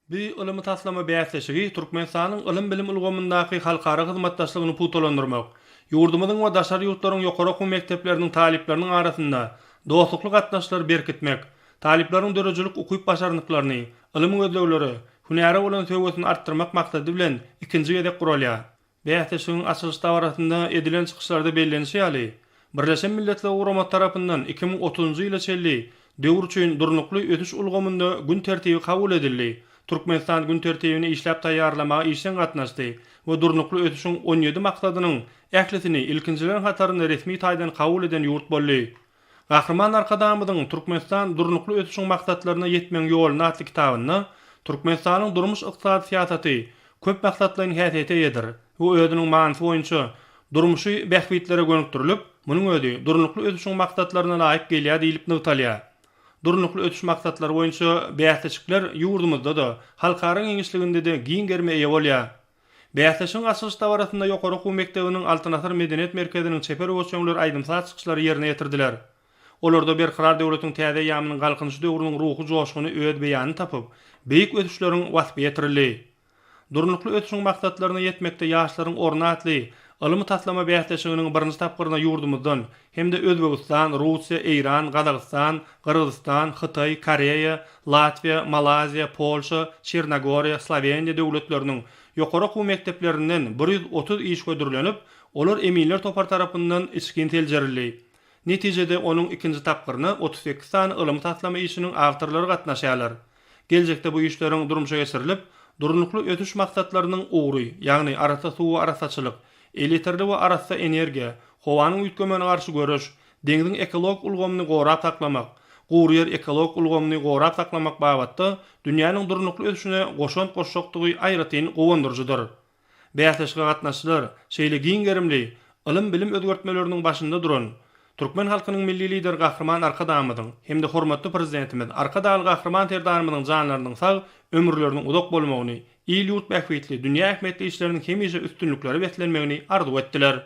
Bu ylmy taslama bäsleşigi Türkmenistanyň ylym-bilim ulgamyndaky halkara hyzmatdaşlygyny pugtalandyrmak, ýurdumyzyň we daşary ýurtlaryň ýokary okuw mekdepleriniň talyplarynyň arasynda dostlukly gatnaşyklary berkitmek, talyplaryň döredijilik ukyp-başarnyklaryny, ylmy gözleglere, hünäre bolan söýgüsini artdyrmak maksady bilen ikinji gezek guralýar. Bäsleşigiň açylyş dabarasynda edilen çykyşlarda bellenişi ýaly, Birleşen Milletler Guramasy tarapyndan iki müň otuzynjy ýyla çenli döwür üçin durnukly ösüş ulgamynda gün tertibi kabul edildi, Türkmenistan gün tertibini işläp taýýarlamaga işjeň gatnaşdy we Durnukly ösüşiň on ýedi maksadynyň ählisini ilkinjileriň hatarynda resmi taýdan kabul eden ýurt boldy. Gahryman Arkadagymyzyň Türkmenistan durnukly ösüşiň maksatlaryna ýetmegiň ýolunda atly kitabynda Türkmenistanyň durmuş-ykdysady syýasaty köp maksatlaýyn häsiýete eýedir we özüniň manysy boýunça durmuşy bähbitlere gönükdirilip, munuň özi durnukly ösüşiň maksatlaryna laýyk gelýär diýlip nygtalýar. Durnukly ösüş maksatlary boýunça bäsleşikler ýurdumyzda-da, halkara giňişliginde-de giň gerime eýe bolýar. Bäsleşigiň açylyş dabarasynda ýokary okuw mekdebiniň Altyn asyr medeniýet merkeziniň çeper owaçöňleri aýdym-saz çykyşlary ýerine ýetirdiler. Olarda Berkarar döwletiň täze eýýamynyň Galkynyş döwrüniň ruhy joşguny öz beýanyny tapyp, beýik ösüşleriň waspy ýetirildi. Durnukly ösüşiň maksatlaryna ýetmekde ýaşlaryň orny atly ylmy-taslama bäsleşiginiň birinji tapgyryna ýurdumyzdan hem-de Özbegistan, Russiýa, Eýran, Gazagystan, Gyrgyzystan, Hytaý, Koreýa, Latwiýa, Malaýziýa, Polşa, Çernogoriýa, Sloweniýa döwletleriniň ýokary okuw mekdeplerinden bir ýüz otuz iş hödürlenip, olar eminler topary tarapyndan içgin seljerildi. Netijede, onuň ikinji tapgyryna otuz sekiz sany ylmy taslama işiniň awtorlary gatnaşýarlar. Geljekde bu işleriň durmuşa geçirilip, Durnukly ösüş maksatlarynyň ugry, ýagny arassa suw we arassaçylyk, elýeterli we arassa energiýa, howanyň üýtgemegine garşy göreş, deňziň ekologik ulgamyny gorap saklamak, gury ýer ekologik ulgamyny gorap saklamak babatda dünýäniň durnukly ösüşine goşant goşjakdygy aýratyn guwandyryjydyr. Bäsleşige gatnaşyjylar şeýle giň gerimli ylym-bilim özgertmeleriniň başynda duran türkmen halkynyň Milli Lideri Gahryman Arkadagymyzyň hem-de hormatly Prezidentimiz Arkadagly Gahryman Serdarymyzyň janlarynyň sag, ömürleriniň uzak bolmagyny, il-ýurt bähbitli, dünýä ähmiýetli işleriniň hemişe üstünliklere beslenmegini arzuw etdiler.